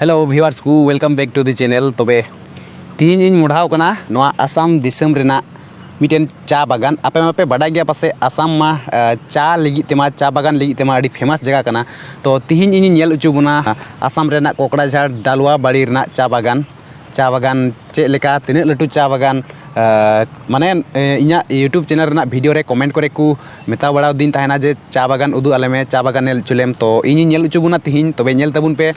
Hello viewers ᱠᱚ welcome back to the channel ᱛᱚᱵᱮ ᱛᱤᱦᱤᱧ ᱤᱧ ᱢᱚᱰᱷᱟᱣ ᱠᱟᱱᱟ ᱱᱚᱣᱟ ᱟᱥᱟᱢ ᱫᱤᱥᱚᱢ ᱨᱮᱱᱟᱜ ᱢᱤᱫᱴᱮᱱ ᱪᱟ ᱵᱟᱜᱟᱱ ᱟᱯᱮ ᱢᱟᱯᱮ ᱵᱟᱰᱟᱭ ᱜᱮᱭᱟ ᱯᱟᱥᱮᱡ ᱟᱥᱟᱢ ᱢᱟ ᱪᱟ ᱞᱟᱹᱜᱤᱫ ᱛᱮᱢᱟ ᱪᱟ ᱵᱟᱜᱟᱱ ᱞᱟᱹᱜᱤᱫ ᱛᱮᱢᱟ ᱟᱹᱰᱤ ᱯᱷᱮᱢᱟᱥ ᱡᱟᱭᱜᱟ ᱠᱟᱱᱟ ᱛᱚ ᱛᱤᱦᱤᱧ ᱤᱧᱤᱧ ᱧᱮᱞ ᱦᱚᱪᱚ ᱵᱚᱱᱟ ᱟᱥᱟᱢ ᱨᱮᱱᱟᱜ ᱠᱚᱠᱲᱟᱡᱷᱟᱲ ᱰᱟᱞᱣᱟ ᱵᱟᱲᱤ ᱨᱮᱱᱟᱜ ᱪᱟ ᱵᱟᱜᱟᱱ ᱪᱟ ᱵᱟᱜᱟᱱ ᱪᱮᱫ ᱞᱮᱠᱟ ᱛᱤᱱᱟᱹᱜ ᱞᱟᱹᱴᱩ ᱪᱟ ᱵᱟᱜᱟᱱ ᱢᱟᱱᱮ ᱤᱧᱟᱹᱜ ᱤᱭᱩᱴᱩᱵᱽ ᱪᱮᱱᱮᱞ ᱨᱮᱱᱟᱜ ᱵᱷᱤᱰᱤᱭᱳ ᱨᱮ ᱠᱚᱢᱮᱱᱴ ᱠᱚᱨᱮ ᱠᱚ ᱢᱮᱛᱟ ᱵᱟᱲᱟ ᱟᱹᱫᱤᱧ ᱛᱟᱦᱮᱱᱟ ᱡᱮ ᱪᱟ ᱵᱟᱜᱟᱱ ᱩᱫᱩᱜ ᱟᱞᱮ ᱢᱮ ᱪᱟ ᱵᱟᱜᱟᱱ ᱧᱮᱞ ᱦᱚᱪᱚ ᱞᱮᱢ ᱛᱚ ᱤᱧᱤᱧ ᱧᱮᱞ ᱦᱚᱪᱚ ᱵᱚᱱᱟ ᱛᱮᱦᱮᱧ ᱛᱚᱵᱮ ᱧᱮᱞ ᱛᱟᱵᱚᱱ ᱯᱮ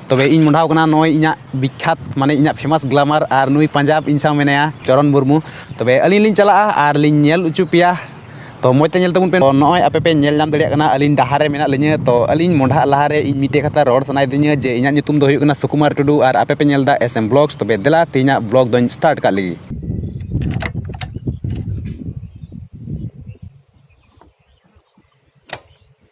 ᱛᱚᱵᱮ ᱤᱧ ᱢᱚᱦᱰᱟᱣ ᱠᱟᱱᱟ ᱱᱚᱜᱼᱚᱸᱭ ᱤᱧᱟᱹᱜ ᱵᱤᱠᱠᱷᱟᱛ ᱢᱟᱱᱮ ᱤᱧᱟᱹᱜ ᱯᱷᱮᱢᱟᱥ ᱜᱞᱟᱢᱟᱨ ᱟᱨ ᱱᱩᱭ ᱯᱟᱧᱡᱟᱵᱽ ᱤᱧ ᱥᱟᱶ ᱢᱮᱱᱟᱭᱟ ᱪᱚᱨᱚᱱ ᱢᱩᱨᱢᱩ ᱛᱚᱵᱮ ᱟᱹᱞᱤᱧ ᱞᱤᱧ ᱪᱟᱞᱟᱜᱼᱟ ᱟᱨ ᱞᱤᱧ ᱧᱮᱞ ᱦᱚᱪᱚ ᱯᱮᱭᱟ ᱛᱚ ᱢᱚᱡᱽ ᱛᱮ ᱧᱮᱞ ᱛᱟᱵᱚᱱ ᱯᱮ ᱱᱚᱜᱼᱚᱭ ᱟᱯᱮ ᱯᱮ ᱧᱮᱞ ᱧᱟᱢ ᱫᱟᱲᱮᱭᱟᱜ ᱠᱟᱱᱟ ᱟᱹᱞᱤᱧ ᱰᱟᱦᱟᱨ ᱨᱮ ᱢᱮᱱᱟᱜ ᱞᱤᱧᱟᱹ ᱛᱚ ᱟᱹᱞᱤᱧ ᱢᱚᱦᱰᱟᱜ ᱞᱟᱦᱟ ᱨᱮ ᱤᱧ ᱢᱤᱫᱴᱮᱡ ᱠᱟᱛᱷᱟ ᱨᱚᱲ ᱥᱟᱱᱟᱭᱮᱫᱤᱧᱟᱹ ᱡᱮ ᱤᱧᱟᱹᱜ ᱧᱩᱛᱩᱢ ᱫᱚ ᱦᱩᱭᱩᱜ ᱠᱟᱱᱟ ᱥᱩᱠᱩᱢᱟᱨ ᱴᱩᱰᱩ ᱟᱨ ᱟᱯᱮ ᱯᱮ ᱧᱮᱞᱫᱟ ᱮᱥ ᱮᱢ ᱵᱞᱚᱜᱽᱥ ᱛᱚᱵᱮ ᱫᱮᱞᱟ ᱛᱮᱦᱮᱧᱟᱜ ᱵᱞᱚᱜᱽ ᱫᱚᱧ ᱥᱴᱟᱨᱴ ᱠᱟᱜ ᱞᱮᱜᱮ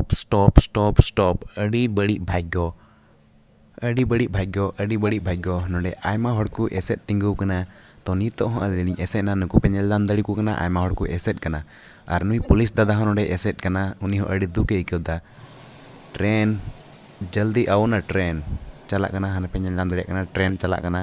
ᱥᱴᱚᱯ ᱥᱴᱚᱯ ᱥᱴᱚᱯ ᱥᱴᱚᱯ ᱟᱹᱰᱤ ᱵᱟᱹᱲᱤᱡ ᱵᱷᱟᱜᱽᱜᱚ ᱟᱹᱰᱤ ᱵᱟᱹᱲᱤᱡ ᱵᱷᱟᱜᱽᱜᱚ ᱟᱹᱰᱤ ᱵᱟᱹᱲᱤᱡ ᱵᱷᱟᱜᱽᱜᱚ ᱱᱚᱰᱮ ᱟᱭᱢᱟ ᱦᱚᱲ ᱠᱚ ᱮᱥᱮᱫ ᱛᱤᱸᱜᱩ ᱟᱠᱟᱱᱟ ᱛᱚ ᱱᱤᱛᱚᱜ ᱦᱚᱸ ᱟᱹᱞᱤᱧ ᱞᱤᱧ ᱮᱥᱮᱫ ᱮᱱᱟ ᱱᱩᱠᱩ ᱯᱮ ᱧᱮᱞ ᱧᱟᱢ ᱫᱟᱲᱮ ᱟᱠᱚ ᱠᱟᱱᱟ ᱟᱭᱢᱟ ᱦᱚᱲ ᱠᱚ ᱮᱥᱮᱫ ᱠᱟᱱᱟ ᱟᱨ ᱱᱩᱭ ᱯᱩᱞᱤᱥ ᱫᱟᱫᱟ ᱦᱚᱸ ᱱᱚᱰᱮᱭ ᱮᱥᱮᱫ ᱠᱟᱱᱟ ᱩᱱᱤ ᱦᱚᱸ ᱟᱹᱰᱤ ᱫᱩᱠᱮ ᱟᱹᱭᱠᱟᱹᱣ ᱮᱫᱟ ᱴᱨᱮᱱ ᱡᱚᱞᱫᱤ ᱟᱣᱳ ᱱᱟ ᱴᱨᱮᱱ ᱪᱟᱞᱟᱜ ᱠᱟᱱᱟ ᱦᱟᱱᱮ ᱯᱮ ᱧᱮᱞ ᱧᱟᱢ ᱫᱟᱲᱮᱭᱟᱜ ᱠᱟᱱᱟ ᱴᱨᱮᱱ ᱪᱟᱞᱟᱜ ᱠᱟᱱᱟ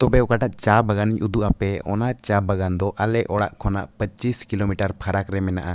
ᱛᱚᱵᱮ ᱚᱠᱟᱴᱟᱜ ᱪᱟ ᱵᱟᱜᱟᱱ ᱤᱧ ᱩᱫᱩᱜ ᱟᱯᱮ ᱚᱱᱟ ᱪᱟ ᱵᱟᱜᱟᱱ ᱫᱚ ᱟᱞᱮ ᱚᱲᱟᱜ ᱠᱷᱚᱱᱟᱜ ᱯᱚᱸᱪᱤᱥ ᱠᱤᱞᱳᱢᱤᱴᱟᱨ ᱯᱷᱟᱨᱟᱠ ᱨᱮ ᱢᱮᱱᱟᱜᱼᱟ᱾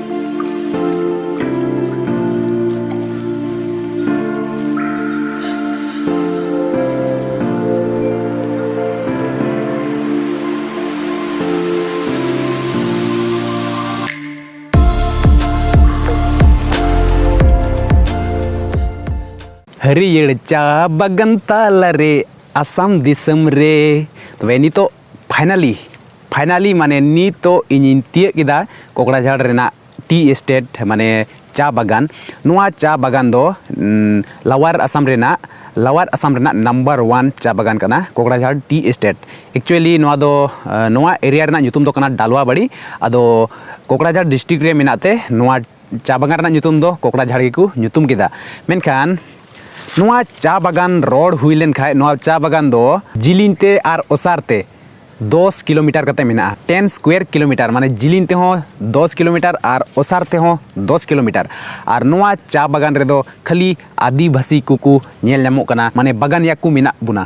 ᱦᱟᱹᱨᱤᱭᱟᱹᱲ ᱪᱟ ᱵᱟᱜᱟᱱ ᱛᱟᱞᱟ ᱨᱮ ᱟᱥᱟᱢ ᱫᱤᱥᱚᱢ ᱨᱮ ᱛᱚᱵᱮ ᱱᱤᱛᱚᱜ ᱯᱷᱟᱭᱱᱟᱞᱤ ᱯᱷᱟᱭᱱᱟᱞᱤ ᱢᱟᱱᱮ ᱱᱤᱛᱚᱜ ᱤᱧᱤᱧ ᱛᱤᱭᱟᱹᱜ ᱠᱮᱫᱟ ᱠᱚᱠᱲᱟᱡᱷᱟᱲ ᱨᱮᱱᱟᱜ ᱴᱤ ᱮᱥᱴᱮᱴ ᱢᱟᱱᱮ ᱪᱟ ᱵᱟᱜᱟᱱ ᱱᱚᱣᱟ ᱪᱟ ᱵᱟᱜᱟᱱ ᱫᱚ ᱞᱟᱣᱟᱨ ᱟᱥᱟᱢ ᱨᱮᱱᱟᱜ ᱞᱟᱣᱟᱨ ᱟᱥᱟᱢ ᱨᱮᱱᱟᱜ ᱱᱟᱢᱵᱟᱨ ᱚᱣᱟᱱ ᱪᱟ ᱵᱟᱜᱟᱱ ᱠᱟᱱᱟ ᱠᱚᱠᱲᱟᱡᱷᱟᱲ ᱴᱤ ᱮᱥᱴᱮᱴ ᱮᱠᱪᱩᱭᱮᱞᱤ ᱱᱚᱣᱟ ᱫᱚ ᱱᱚᱣᱟ ᱮᱨᱤᱭᱟ ᱨᱮᱱᱟᱜ ᱧᱩᱛᱩᱢ ᱫᱚ ᱠᱟᱱᱟ ᱰᱟᱞᱣᱟ ᱵᱟᱲᱤ ᱟᱫᱚ ᱠᱚᱠᱲᱟᱡᱷᱟᱲ ᱰᱤᱥᱴᱤᱠ ᱨᱮ ᱢᱮᱱᱟᱜ ᱛᱮ ᱱᱚᱣᱟ ᱪᱟ ᱵᱟᱜᱟᱱ ᱨᱮᱱᱟᱜ ᱧᱩᱛᱩᱢ ᱫᱚ ᱠᱚᱠᱲᱟ ᱡᱷᱟᱲ ᱜᱮᱠᱚ ᱧᱩᱛᱩᱢ ᱠᱮᱫᱟ ᱢᱮᱱᱠᱷᱟᱱ ᱱᱚᱣᱟ ᱪᱟ ᱵᱟᱜᱟᱱ ᱨᱚᱲ ᱦᱩᱭ ᱞᱮᱱᱠᱷᱟᱱ ᱱᱚᱣᱟ ᱪᱟ ᱵᱟᱜᱟᱱ ᱫᱚ ᱡᱤᱞᱤᱧ ᱛᱮ ᱟᱨ ᱚᱥᱟᱨ ᱛᱮ ᱫᱚᱥ ᱠᱤᱞᱳᱢᱤᱴᱟᱨ ᱠᱟᱛᱮ ᱢᱮᱱᱟᱜᱼᱟ ᱴᱮᱱ ᱥᱠᱩᱭᱟᱨ ᱠᱤᱞᱳᱢᱤᱴᱟᱨ ᱢᱟᱱᱮ ᱡᱤᱞᱤᱧ ᱛᱮᱦᱚᱸ ᱫᱚᱥ ᱠᱤᱞᱳᱢᱤᱴᱟᱨ ᱟᱨ ᱚᱥᱟᱨ ᱛᱮᱦᱚᱸ ᱫᱚᱥ ᱠᱤᱞᱳᱢᱤᱴᱟᱨ ᱟᱨ ᱱᱚᱣᱟ ᱪᱟ ᱵᱟᱜᱟᱱ ᱨᱮᱫᱚ ᱠᱷᱟᱹᱞᱤ ᱟᱹᱫᱤᱵᱟᱹᱥᱤ ᱠᱚᱠᱚ ᱧᱮᱞ ᱧᱟᱢᱚᱜ ᱠᱟᱱᱟ ᱢᱟᱱᱮ ᱵᱟᱜᱟᱱᱤᱭᱟ ᱠᱚ ᱢᱮᱱᱟᱜ ᱵᱚᱱᱟ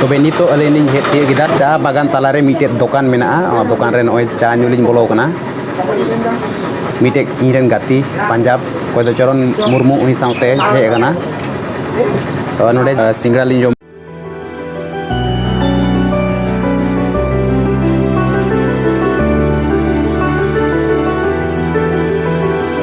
ᱛᱚᱵᱮ ᱱᱤᱛᱚᱜ ᱟᱹᱞᱤᱧ ᱞᱤᱧ ᱦᱮᱡ ᱛᱤᱭᱳᱜ ᱠᱮᱫᱟ ᱪᱟ ᱵᱟᱜᱟᱱ ᱛᱟᱞᱟᱨᱮ ᱢᱤᱫᱴᱮᱡ ᱫᱚᱠᱟᱱ ᱢᱮᱱᱟᱜᱼᱟ ᱚᱱᱟ ᱫᱚᱠᱟᱱ ᱨᱮ ᱱᱚᱜᱼᱚᱭ ᱪᱟ ᱧᱩ ᱞᱤᱧ ᱵᱚᱞᱚ ᱠᱟᱱᱟ ᱢᱤᱫᱴᱮᱡ ᱤᱧ ᱨᱮᱱ ᱜᱟᱛᱮ ᱯᱟᱧᱡᱟᱵᱽ ᱚᱠᱚᱭ ᱫᱚ ᱪᱚᱨᱚᱱ ᱢᱩᱨᱢᱩ ᱩᱱᱤ ᱥᱟᱶᱛᱮ ᱦᱮᱡ ᱠᱟᱱᱟ ᱛᱚ ᱱᱚᱰᱮ ᱥᱤᱸᱜᱟᱲᱟ ᱞᱤᱧ ᱡᱚᱢ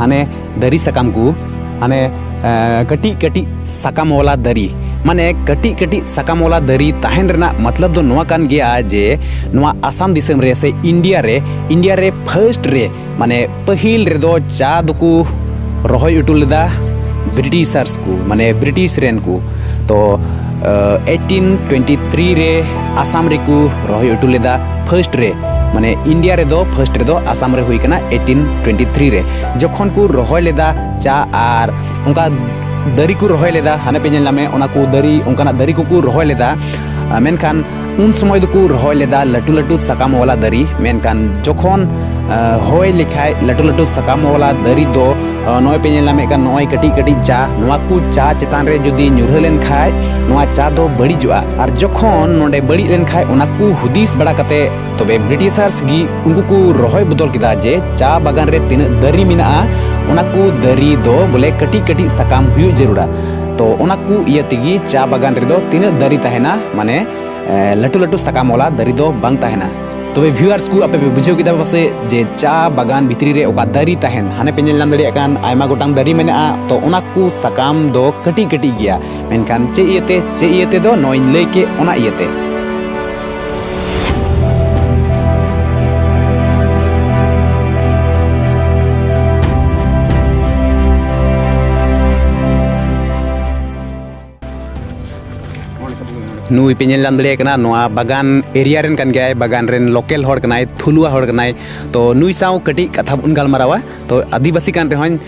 ᱦᱟᱱᱮ ᱫᱟᱨᱮ ᱥᱟᱠᱟᱢ ᱠᱚ ᱦᱟᱱᱮ ᱠᱟᱹᱴᱤᱡ ᱠᱟᱹᱴᱤᱡ ᱥᱟᱠᱟᱢ ᱣᱟᱞᱟ ᱫᱟᱨᱮ ᱢᱟᱱᱮ ᱠᱟᱹᱴᱤᱡ ᱠᱟᱹᱴᱤᱡ ᱥᱟᱠᱟᱢ ᱣᱟᱞᱟ ᱫᱟᱨᱮ ᱛᱟᱦᱮᱱ ᱨᱮᱱᱟᱜ ᱢᱚᱛᱞᱚᱵ ᱫᱚ ᱱᱚᱣᱟ ᱠᱟᱱ ᱜᱮᱭᱟ ᱡᱮ ᱱᱚᱣᱟ ᱟᱥᱟᱢ ᱫᱤᱥᱚᱢ ᱨᱮ ᱥᱮ ᱤᱱᱰᱤᱭᱟ ᱨᱮ ᱤᱱᱰᱤᱭᱟ ᱨᱮ ᱯᱷᱟᱹᱥᱴ ᱨᱮ ᱢᱟᱱᱮ ᱯᱟᱹᱦᱤᱞ ᱨᱮᱫᱚ ᱪᱟ ᱫᱚᱠᱚ ᱨᱚᱦᱚᱭ ᱦᱚᱴᱚ ᱞᱮᱫᱟ ᱵᱨᱤᱴᱤᱥᱟᱨᱥ ᱠᱚ ᱢᱟᱱᱮ ᱵᱨᱤᱴᱤᱥ ᱨᱮᱱ ᱠᱚ ᱛᱚ ᱮᱭᱤᱴᱤᱱ ᱴᱩᱭᱮᱱᱴᱤ ᱛᱷᱨᱤ ᱨᱮ ᱟᱥᱟᱢ ᱨᱮᱠᱚ ᱨᱚᱦᱚᱭ ᱦᱚᱴᱚ ᱞᱮᱫᱟ ᱯᱷᱟᱨᱥᱴ ᱨᱮ ᱢᱟᱱᱮ ᱤᱱᱰᱤᱭᱟ ᱨᱮᱫᱚ ᱯᱷᱟᱨᱥᱴ ᱨᱮᱫᱚ ᱟᱥᱟᱢ ᱨᱮ ᱦᱩᱭ ᱠᱟᱱᱟ ᱮᱭᱤᱴᱤᱱ ᱴᱩᱭᱮᱱᱴᱤ ᱛᱷᱨᱤ ᱨᱮ ᱡᱚᱠᱷᱚᱱ ᱠᱚ ᱨᱚᱦᱚᱭ ᱞᱮᱫᱟ ᱪᱟ ᱟᱨ ᱚᱱᱠᱟ ᱫᱟᱨᱮ ᱠᱚ ᱨᱚᱦᱚᱭ ᱞᱮᱫᱟ ᱦᱟᱱᱮ ᱯᱮ ᱧᱮᱞ ᱧᱟᱢᱮᱫ ᱚᱱᱟ ᱠᱚ ᱫᱟᱨᱮ ᱚᱱᱠᱟᱱᱟᱜ ᱫᱟᱨᱮ ᱠᱚᱠᱚ ᱨᱚᱦᱚᱭ ᱞᱮᱫᱟ ᱢᱮᱱᱠᱷᱟᱱ ᱩᱱ ᱥᱚᱢᱚᱭ ᱫᱚᱠᱚ ᱨᱚᱦᱚᱭ ᱞᱮᱫᱟ ᱞᱟᱹᱴᱩ ᱞᱟᱹᱴᱩ ᱥᱟᱠᱟᱢ ᱣᱟᱞᱟ ᱫᱟᱨᱮ ᱢᱮᱱᱠᱷᱟᱱ ᱡᱚᱠᱷᱚᱱ ᱦᱚᱭ ᱞᱮᱠᱷᱟᱡ ᱞᱟᱹᱴᱩ ᱞᱟᱹᱴᱩ ᱥᱟᱠᱟᱢ ᱣᱟᱞᱟ ᱫᱟᱨᱮ ᱫᱚ ᱱᱚᱜᱼᱚᱭ ᱯᱮ ᱧᱮᱞ ᱧᱟᱢᱮᱫ ᱠᱟᱱ ᱱᱚᱜᱼᱚᱭ ᱠᱟᱹᱴᱤᱡ ᱠᱟᱹᱴᱤᱡ ᱪᱟ ᱱᱚᱣᱟ ᱠᱚ ᱪᱟ ᱪᱮᱛᱟᱱ ᱨᱮ ᱡᱩᱫᱤ ᱧᱩᱨᱦᱟᱹ ᱞᱮᱱ ᱠᱷᱟᱡ ᱱᱚᱣᱟ ᱪᱟ ᱫᱚ ᱵᱟᱹᱲᱤᱡᱚᱜᱼᱟ ᱟᱨ ᱡᱚᱠᱷᱚᱱ ᱱᱚᱰᱮ ᱵᱟᱹᱲᱤᱡ ᱞᱮᱱ ᱠᱷᱟᱡ ᱚᱱᱟ ᱠᱚ ᱦᱩᱫᱤᱥ ᱵᱟᱲᱟ ᱠᱟᱛᱮ ᱛᱚᱵᱮ ᱵᱨᱤᱴᱤᱥᱟᱨᱥ ᱜᱮ ᱩᱱᱠᱩ ᱠᱚ ᱨᱚᱦᱚᱭ ᱵᱚᱫᱚᱞ ᱠᱮᱫᱟ ᱡᱮ ᱪᱟ ᱵᱟᱜᱟᱱ ᱨᱮ ᱛᱤᱱᱟᱹᱜ ᱫᱟᱨᱮ ᱢᱮᱱᱟᱜᱼᱟ ᱚᱱᱟ ᱠᱚ ᱫᱟᱨᱮ ᱫᱚ ᱵᱚᱞᱮ ᱠᱟᱹᱴᱤᱡ ᱠᱟᱹᱴᱤᱡ ᱥᱟᱠᱟᱢ ᱦᱩᱭᱩᱜ ᱡᱟᱹᱨᱩᱲᱟ ᱛᱚ ᱚᱱᱟ ᱠᱚ ᱤᱭᱟᱹ ᱛᱮᱜᱮ ᱪᱟ ᱵᱟᱜᱟᱱ ᱨᱮᱫᱚ ᱛᱤᱱᱟᱹᱜ ᱫᱟᱨᱮ ᱛᱟᱦᱮᱱᱟ ᱢᱟᱱᱮ ᱞᱟᱹᱴᱩ ᱞᱟᱹᱴᱩ ᱥᱟᱠᱟᱢ ᱚᱞᱟ ᱫᱟᱨᱮ ᱫᱚ ᱵᱟᱝ ᱛᱟᱦᱮᱱᱟ ᱛᱚᱵᱮ ᱵᱷᱤᱭᱩᱣᱟᱨᱥ ᱠᱚ ᱟᱯᱮ ᱯᱮ ᱵᱩᱡᱷᱟᱹᱣ ᱠᱮᱫᱟ ᱯᱟᱥᱮ ᱡᱮ ᱪᱟ ᱵᱟᱜᱟᱱ ᱵᱷᱤᱛᱨᱤ ᱨᱮ ᱚᱠᱟ ᱫᱟᱨᱮ ᱛᱟᱦᱮᱱ ᱦᱟᱱᱮ ᱯᱮ ᱧᱮᱞ ᱧᱟᱢ ᱫᱟᱲᱮᱭᱟᱜ ᱠᱟᱱ ᱟᱭᱢᱟ ᱜᱚᱴᱟᱝ ᱫᱟᱨᱮ ᱢᱮᱱᱟᱜᱼᱟ ᱛᱚ ᱚᱱᱟ ᱠᱚ ᱥᱟᱠᱟᱢ ᱫᱚ ᱠᱟᱹᱴᱤᱡ ᱠᱟᱹᱴᱤᱡ ᱜᱮᱭᱟ ᱢᱮᱱᱠᱷᱟᱱ ᱪᱮᱫ ᱤᱭᱟᱹᱛᱮ ᱪᱮᱫ ᱤᱭᱟᱹ ᱛᱮᱫᱚ ᱱᱚᱜᱼᱚᱭ ᱞᱟᱹᱭ ᱠᱮᱫ ᱚᱱᱟ ᱤᱭᱟᱹᱛᱮ ᱱᱩᱭ ᱯᱮ ᱧᱮᱞ ᱧᱟᱢ ᱫᱟᱲᱮᱭᱟᱭ ᱠᱟᱱᱟ ᱱᱚᱣᱟ ᱵᱟᱜᱟᱱ ᱮᱨᱤᱭᱟ ᱨᱮᱱ ᱠᱟᱱ ᱜᱮᱭᱟᱭ ᱵᱟᱜᱟᱱ ᱨᱮᱱ ᱞᱳᱠᱮᱞ ᱦᱚᱲ ᱠᱟᱱᱟᱭ ᱛᱷᱩᱞᱩᱣᱟ ᱦᱚᱲ ᱠᱟᱱᱟᱭ ᱛᱚ ᱱᱩᱭ ᱥᱟᱶ ᱠᱟᱹᱴᱤᱡ ᱠᱟᱛᱷᱟ ᱵᱚᱱ ᱜᱟᱞᱢᱟᱨᱟᱣᱟ ᱛᱚ ᱟᱹᱫᱤᱵᱟᱹᱥᱤ ᱠᱟᱱ ᱨᱮᱦᱚᱸᱭ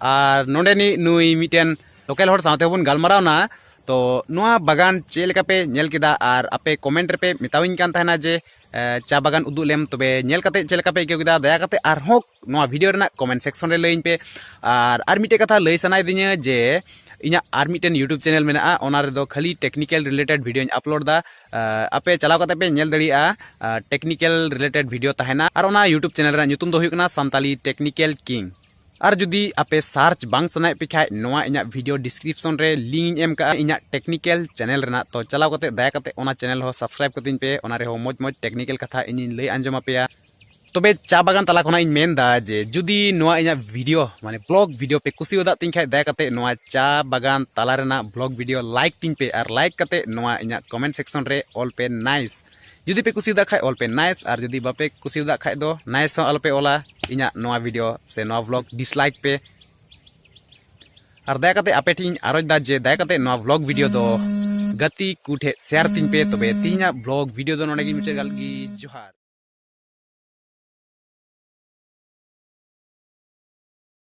ᱟᱨ ᱱᱚᱰᱮ ᱱᱤ ᱱᱩᱭ ᱢᱤᱫᱴᱮᱱ ᱞᱳᱠᱟᱞ ᱦᱚᱲ ᱥᱟᱶᱛᱮ ᱵᱚᱱ ᱜᱟᱞᱢᱟᱨᱟᱣᱱᱟ ᱛᱚ ᱱᱚᱣᱟ ᱵᱟᱜᱟᱱ ᱪᱮᱫ ᱞᱮᱠᱟ ᱯᱮ ᱧᱮᱞ ᱠᱮᱫᱟ ᱟᱨ ᱟᱯᱮ ᱠᱚᱢᱮᱱᱴ ᱨᱮᱯᱮ ᱢᱮᱛᱟᱣᱤᱧ ᱠᱟᱱ ᱛᱟᱦᱮᱱᱟ ᱡᱮ ᱪᱟ ᱵᱟᱜᱟᱱ ᱩᱫᱩᱜ ᱞᱮᱢ ᱛᱚᱵᱮ ᱧᱮᱞ ᱠᱟᱛᱮ ᱪᱮᱫ ᱞᱮᱠᱟ ᱯᱮ ᱟᱹᱭᱠᱟᱹᱣ ᱠᱮᱫᱟ ᱫᱟᱭᱟ ᱠᱟᱛᱮ ᱟᱨᱦᱚᱸ ᱱᱚᱣᱟ ᱵᱷᱤᱰᱤᱭᱳ ᱨᱮᱱᱟᱜ ᱠᱚᱢᱮᱱᱴ ᱥᱮᱠᱥᱚᱱ ᱨᱮ ᱞᱟᱹᱭᱟᱹᱧ ᱯᱮ ᱟᱨ ᱟᱨ ᱢᱤᱫᱴᱮᱡ ᱠᱟᱛᱷᱟ ᱞᱟᱹᱭ ᱥᱟᱱᱟᱭᱮᱫᱤᱧᱟ ᱡᱮ ᱤᱧᱟᱹᱜ ᱟᱨ ᱢᱤᱫᱴᱮᱱ ᱤᱭᱩᱴᱩᱵᱽ ᱪᱮᱱᱮᱞ ᱢᱮᱱᱟᱜᱼᱟ ᱚᱱᱟ ᱨᱮᱫᱚ ᱠᱷᱟᱹᱞᱤ ᱴᱮᱠᱱᱤᱠᱮᱞ ᱨᱤᱞᱮᱴᱮᱰ ᱵᱷᱤᱰᱤᱭᱳᱧ ᱟᱯᱞᱳᱰ ᱫᱟ ᱟᱯᱮ ᱪᱟᱞᱟᱣ ᱠᱟᱛᱮ ᱯᱮ ᱧᱮᱞ ᱫᱟᱲᱮᱭᱟᱜᱼᱟ ᱴᱮᱠᱱᱤᱠᱮᱞ ᱨᱤᱞᱮᱴᱮᱰ ᱵᱷᱤᱰᱤᱭᱳ ᱛᱟᱦᱮᱱᱟ ᱟᱨ ᱚᱱᱟ ᱤᱭᱩᱴᱩᱵᱽ ᱪᱮᱱᱮᱞ ᱨᱮᱱᱟᱜ ᱧᱩᱛᱩᱢ ᱫᱚ ᱦᱩᱭᱩᱜ ᱠᱟᱱᱟ ᱥᱟᱱᱛᱟᱞᱤ ᱴᱮᱠᱱᱤᱠᱮᱞ ᱠᱤᱝ ᱟᱨ ᱡᱩᱫᱤ ᱟᱯᱮ ᱥᱟᱨᱪ ᱵᱟᱝ ᱥᱟᱱᱟᱭᱮᱫ ᱯᱮ ᱠᱷᱟᱡ ᱱᱚᱣᱟ ᱤᱧᱟᱹᱜ ᱵᱷᱤᱰᱤᱭᱳ ᱰᱤᱥᱠᱨᱤᱯᱥᱚᱱ ᱨᱮ ᱞᱤᱝᱠ ᱤᱧ ᱮᱢ ᱠᱟᱜᱼᱟ ᱤᱧᱟᱹᱜ ᱴᱮᱠᱱᱤᱠᱮᱞ ᱪᱮᱱᱮᱞ ᱨᱮᱱᱟᱜ ᱛᱚ ᱪᱟᱞᱟᱣ ᱠᱟᱛᱮ ᱫᱟᱭᱟ ᱠᱟᱛᱮ ᱚᱱᱟ ᱪᱮᱱᱮᱞ ᱦᱚᱸ ᱥᱟᱵᱥᱠᱨᱟᱭᱤᱵ ᱠᱟᱹᱛᱤᱧ ᱯᱮ ᱚᱱᱟ ᱨᱮᱦᱚᱸ ᱢᱚᱡᱽ ᱢᱚᱡᱽ ᱴᱮᱠᱱᱤᱠᱮᱞ ᱠᱟᱛᱷᱟ ᱤᱧᱤᱧ ᱞᱟᱹᱭ ᱟᱸᱡᱚᱢ ᱟᱯᱮᱭᱟ ᱛᱚᱵᱮ ᱪᱟ ᱵᱟᱜᱟᱱ ᱛᱟᱞᱟ ᱠᱷᱚᱱᱟᱜ ᱤᱧ ᱢᱮᱱᱫᱟ ᱡᱮ ᱡᱩᱫᱤ ᱱᱚᱣᱟ ᱤᱧᱟᱹᱜ ᱵᱷᱤᱰᱤᱭᱳ ᱢᱟᱱᱮ ᱵᱞᱚᱜ ᱵᱷᱤᱰᱤᱭᱳ ᱯᱮ ᱠᱩᱥᱤᱣᱟᱫᱟᱜ ᱛᱤᱧ ᱠᱷᱟᱡ ᱫᱟᱭᱟ ᱠᱟᱛᱮ ᱱᱚᱣᱟ ᱪᱟ ᱵᱟᱜᱟᱱ ᱛᱟᱞᱟ ᱨᱮᱱᱟᱜ ᱵᱞᱚᱜ ᱵᱷᱤᱰᱤᱭᱳ ᱞᱟᱭᱤᱠ ᱛᱤᱧ ᱯᱮ ᱟᱨ ᱞᱟᱭᱤᱠ ᱠᱟᱛᱮ ᱱᱚᱣᱟ ᱤᱧᱟᱹᱜ ᱠᱚᱢᱮᱱᱴ ᱥᱮᱠᱥᱚᱱ ᱨᱮ ᱚᱞ ᱯᱮ ᱱᱟᱭᱤᱥ ᱡᱩᱫᱤ ᱯᱮ ᱠᱩᱥᱤᱭᱟᱫᱟ ᱠᱷᱟᱡ ᱚᱞ ᱯᱮ ᱱᱟᱭᱤᱥ ᱟᱨ ᱡᱩᱫᱤ ᱵᱟᱯᱮ ᱠᱩᱥᱤᱭᱟᱫᱟ ᱠᱷᱟᱡ ᱫᱚ ᱱᱟᱭᱤᱥ ᱦᱚᱸ ᱟᱞᱚᱯᱮ ᱚᱞᱟ ᱤᱧᱟᱹᱜ ᱱᱚᱣᱟ ᱵᱷᱤᱰᱤᱭᱳ ᱥᱮ ᱱᱚᱣᱟ ᱵᱷᱞᱚᱜ ᱰᱤᱥᱞᱟᱭᱤᱠ ᱯᱮ ᱟᱨ ᱫᱟᱭᱟ ᱠᱟᱛᱮ ᱟᱯᱮ ᱴᱷᱮᱱ ᱟᱨᱚᱡ ᱫᱟ ᱡᱮ ᱫᱟᱭᱟ ᱠᱟᱛᱮ ᱱᱚᱣᱟ ᱵᱷᱞᱚᱜ ᱵᱷᱤᱰᱤᱭᱳ ᱫᱚ ᱜᱟᱛᱮ ᱠᱚ ᱴᱷᱮᱡ ᱥᱮᱭᱟᱨ ᱛᱤᱧ ᱯᱮ ᱛᱚᱵᱮ ᱛᱤᱦᱤᱧᱟᱜ ᱵᱷᱞᱚᱜ ᱵᱷᱤᱰᱤᱭᱳ ᱫᱚ ᱱᱚᱰᱮ ᱜᱮ ᱢᱩᱪᱟᱹᱫ ᱜᱟᱞ ᱜᱮ ᱡᱚᱦᱟᱨ